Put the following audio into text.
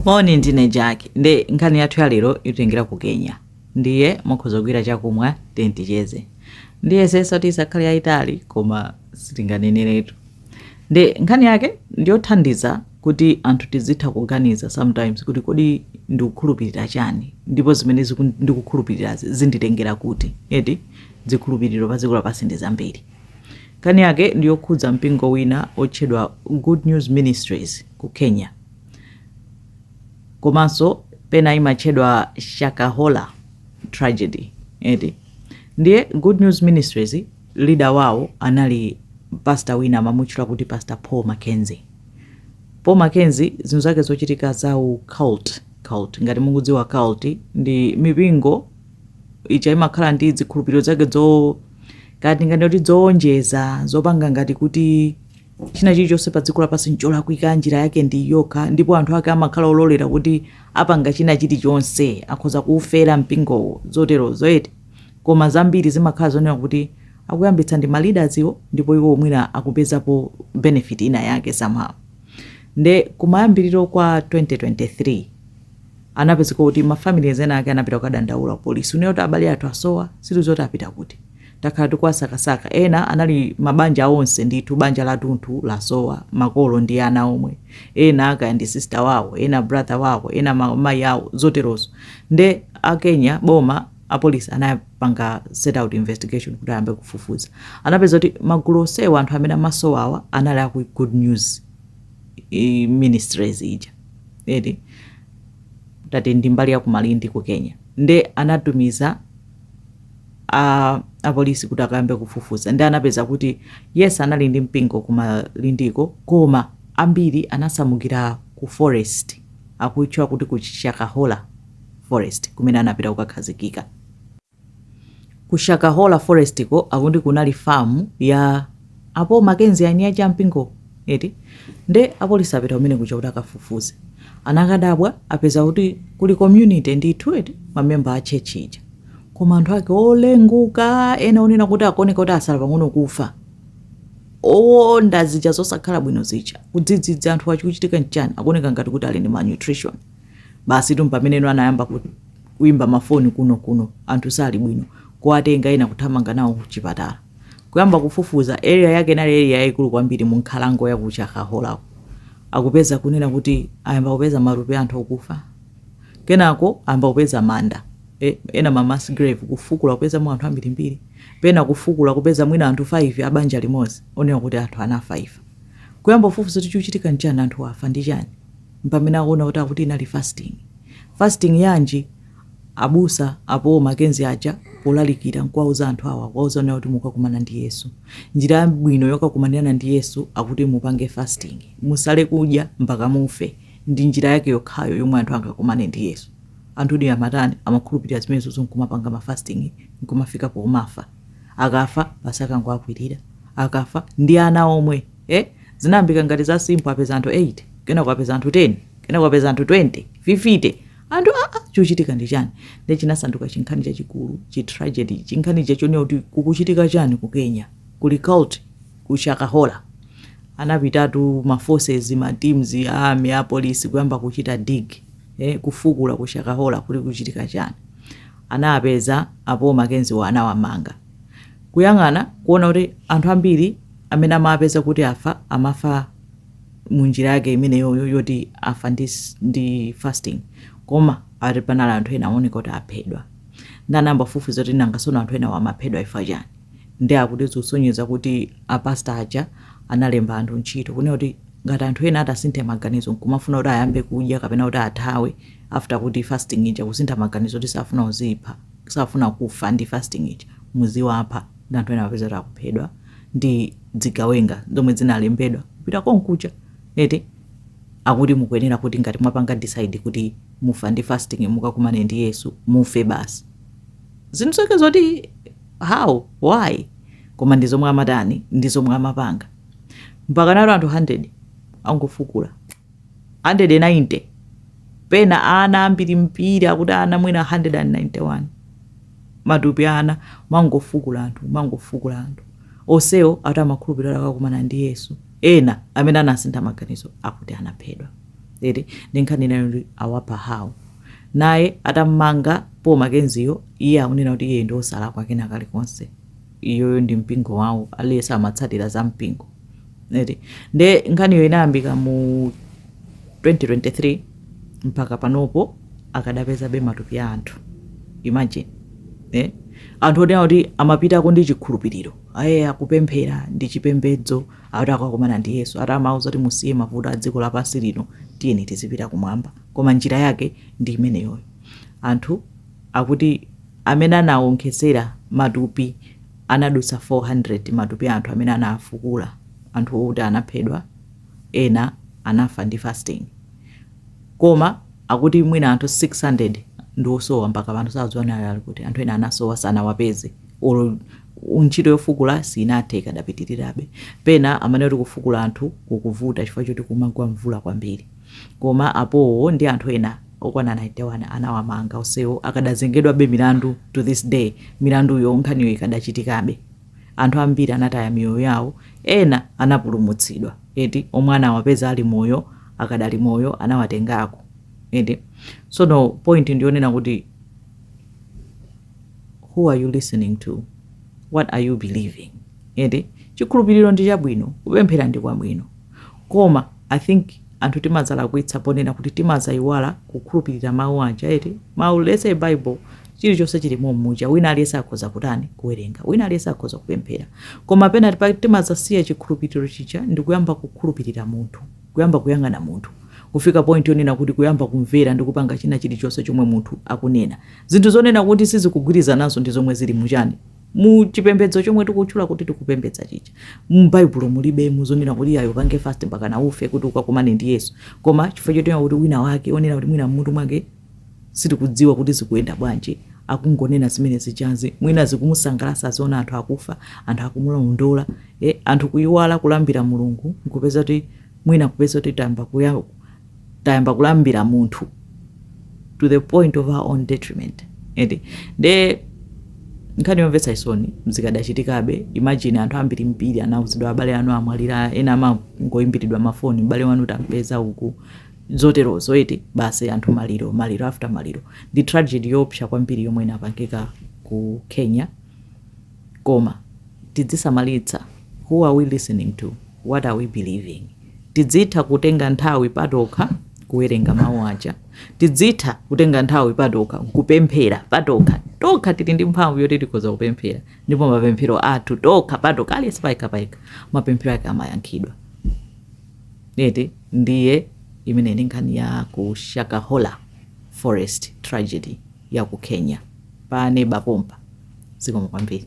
moni ndine jack nde nkhani yathu ya lero itengera ku kenya ndiye mukhoza kugwira chakumwa then ticheze ndiyesetsa kuti isakhale yayitali koma sitinganeneretu nde nkhani yake ndiyothandiza kuti anthu tizitha kuganiza sometimes kuti kodi ndikukhulupirira chani ndipo zimene ziku- ndikukhulupirirazi zinditengera kuti eti zikhulupiriro pa dziko lapansi ndi zambiri Nkhani yake ndi yokhudza mpingo wina otchedwa Good News Ministries ku Kenya komanso pena imatchedwa Shakahola tragedy eti. Ndiye Good News Ministries leader wawo anali pastor wina amamutchula kuti Pastor Paul Mackenzie. Paul Mackenzie zinthu zake zochitika za u cult, cult ngati mukudziwa cult ndi mipingo ija imakhala ndi zikhulupiriro zake zo kaya tinganene kuti zowonjeza zopanga ngati kuti china chilichonse pa dziko lapansi ncholakwika njira yake ndi yokha ndipo anthu ake amakhala ololera kuti apanga china chilichonse akhoza kuufera mpingowo zoterozo eti koma zambiri zimakhala zonena kuti akuyambitsa ndi ma leaders wo ndipo iwo mwina akupezapo benefit ina yake somehow nde kumayambiriro kwa 2023 Anapezeka kuti ma families ena ake anapita kukadandaula ku police kunena kuti abale athu asowa, sitikudziwa kuti apita kuti. Takhala tikuwasakasaka. Ena anali ma banja onse ndithu, banja latunthu lasowa, makolo ndi ana omwe. Ena kaya ndi sister wawo, ena brother wawo, ena ma mayi awo, zoterozo. Nde a Kenya, boma, a police anapanga set out investigation kuti ayambe kufufuza. Anapeza kuti magulu onsewa anthu amene amasowawa anali a ku Good News. ministries ija eti that is mbali ya kumalindi ku kenya nde anatumiza apolisi kuti akayambe kufufuza ndi anapeza kuti yes anali ndi mpingo kumalindiko koma ambiri anasamukira ku forest akutchedwa kuti ku shakahola forest kumene anapita kukakhazikika Ku Shakahola Forest ko akuti kunali farm ya a Paul Mackenzie aeni aja a mpingo eti nde apolisi apita kumene kuja kuti akafufuze. Anakadabwa apeza kuti kuli community ndithu eti ma member a church ija. Koma anthu ake olefuka ena onena kuti akuoneka kuti asala pang'ono kufa. Owonda zija zosakhala bwino zija. Kuti kodi anthuwa chikuchitika nchani? Akuoneka ngati kuti ali ndi malnutrition. Basitu mpameneno anayamba ku kuimba mafoni kuno kuno anthu sali bwino kuwatenga ena kuthamanga nawo kuchipatala kuyamba kufufuza area yake inali area yaikulu kwambiri mu nkhalango ya ku shakaholako akupeza kunena kuti ayamba kupeza matupi anthu okufa kenako ayamba kupeza manda e, ena ma mass grave kufukula kupezamo anthu ambirimbiri pena kufukula kupeza mwina anthu 5 abanja limodzi onena kuti anthu anafa ifa kuyamba kufufuza kuti chikuchitika nchani anthu afa ndi chani mpamene akuona kuti akuti inali fasting. Fasting yanji? Abusa a Paul Mackenzie aja polalikira nkuwauza anthu awa kuwauza kunena kuti mukakumana ndi Yesu. Njira yabwino yokakumanirana ndi Yesu akuti mupange fasting. Musale kudya mpaka mufe. Ndi njira yake yokhayo yomwe anthu angakumane ndi Yesu. Anthudi amatani? Amakhulupirira zimenezozo nkumapanga ma fasting nkumafika pomafa. Akafa basi akangowakwirira. Akafa ndi ana omwe. e zinayambika ngati za simple apeza anthu 8 kenako apeza anthu 10 kenako apeza anthu 20 50 anthu aa chochitika ndi chani nde chinasanduka chinkhani chachikulu chi tragedy chinkhani chachonera kuti kukuchitika chani ku kenya kuli cult ku shakahola anapitatu ma forces ma teams a army a police kuyamba kuchita dig eh, kufukula ku shakahola kuli kuchitika chani anawapeza a Paul Makenziwo anawamanga. Kuyang'ana kuona kuti anthu ambiri amene amawapeza kuti afa amafa mu njira yake imeneyoyo yoti afa ndi, s- ndi fasting koma ati panali anthu ena aoneka kuti aphedwa nde anayamba kufufuza kuti nanga sono anthu enawa amaphedwa chifukwa chani nde akuti zikusonyeza kuti apasta aja analemba anthu ntchito kunena kuti ngati anthu ena atasinthe maganizo nkumafuna kuti ayambe kudya kapena kuti athawe after kuti fasting ija kusintha maganizo kuti safuna kudzipha safuna kufa ndi fasting ija muziwapha nde anthu ena amapeza kuti akuphedwa ndi zigawenga zomwe zinalembedwa kupita konkuja eti akuti mukuyenera kuti ngati mwapanga decide kuti mufa ndi fasting mukakumane ndi yesu mufe basi zinthu zake zoti how why koma ndi zomwe amatani ndi zomwe amapanga mpaka ati anthu 100 angofukula 190 pena ana ambirimbiri akuti ana mwina 191 matupi a ana amangofukula anthu amangofukula anthu onsewo ati amakhulupirira kuti akakumana ndi yesu ena amene anasintha maganizo akuti anaphedwa eti ndi nkhani inayo ndi awapha awo naye atammanga paul makenziyo iye akunena kuti iye ndi osalakwa kena kalikonse iyoyo ndi mpingo wawo aliyense amatsatira za mpingo eti nde nkhaniyo inayambika mu 2023 mpaka panopo akadapezabe matupi a anthu imagine eh? anthu onena kuti amapitako ndi chikhulupiriro ayi akupemphera ndi chipembedzo akuti akakumana ndi yesu ati amauza kuti musiye mavuto a dziko lapansi lino tiyeni tizipita kumwamba koma njira yake ndi imeneyoyo anthu Akuti amene anawonkhetsera matupi anadutsa 400, matupi a anthu amene anafukula anthu oti anaphedwa, ena anafa ndi fasting. Koma akuti mwina anthu 600 ndi osowa mpaka pano sakudziwa kuti ali kuti. Anthu ena anasowa sanawapeze or ntchito yofukula sinathe ikadapitirirabe. Pena amanena kuti kufukula anthu kukuvuta chifukwa choti kumagwa mvula kwambiri. koma apawo ndi anthu ena okwana 91 anawamanga onsewo akadazengedwabe milandu to this day milanduyo nkhaniyo ikadachitikabe anthu ambiri anataya miyoyo yawo ena anapulumutsidwa eti omwe anawapeza ali moyo akadali moyo anawatengako eti sono point ndiyonena kuti who are you listening to what are you believing eti chikhulupiriro ndi chabwino kupemphera ndi kwabwino Koma I think anthu timadzalakwitsa ponena kuti timadzaiwala kukhulupirira mau aja eti, mau let's say bible chilichonse chili mommuja wina aliyense akhoza kutani kuwerenga wina aliyense akhoza kupemphera koma pena pa- timadzasiya chikhulupiriro chija ndi kuyamba kukhulupirira munthu kuyamba kuyang'ana munthu kufika point yonena kuti kuyamba kumvera ndi kupanga china chilichonse chomwe munthu akunena zinthu zonena kuti sizikugwirizananso ndi zomwe zili muchani mu chipembedzo chomwe tikutchula kuti tikupembedza chija m'baibulo mulibemo zonena kuti iyayo upange fast mpaka na ufe kuti ukakumane ndi yesu koma chifukwa choti kuti wina wake onena kuti mwina mmutu mwake sitikudziwa kuti zikuyenda bwanji akungonena zimene zijazi mwina zikumusangalatsa aziona anthu akufa anthu akumulondola eh, anthu kuyiwala kulambira mulungu nkupeza kuti mwina kupeza kuti tamba kuya- tayamba kulambira munthu to the point of our own detriment eti nde nkhani yomvetsa chisoni zikadachitikabe imagine anthu ambirimbiri anauzidwa abale anu amwalira ena amangoimbiridwa mafoni m'bale wanu tampeza uku zoterozo eti basi anthu maliro maliro after maliro ndi tragedy yoopsa kwambiri yomwe inapangika ku kenya Koma tidzisamalitsa who are we listening to, what are we believing? Tidzitha kutenga nthawi patokha kuwerenga mawu aja. Tidzitha kutenga nthawi patokha kupemphera patokha. Tokha tili ndi mphamvu yoti tikhoza kupemphera ndipo mapemphero athu tokha patokha aliyense payekha payekha mapemphero ake amayankhidwa. Eti ndiye imeneyi ndi nkhani ya ku Shakahola Forest tragedy. ya ku Kenya. Pa neba pompa. Zikomo kwambiri.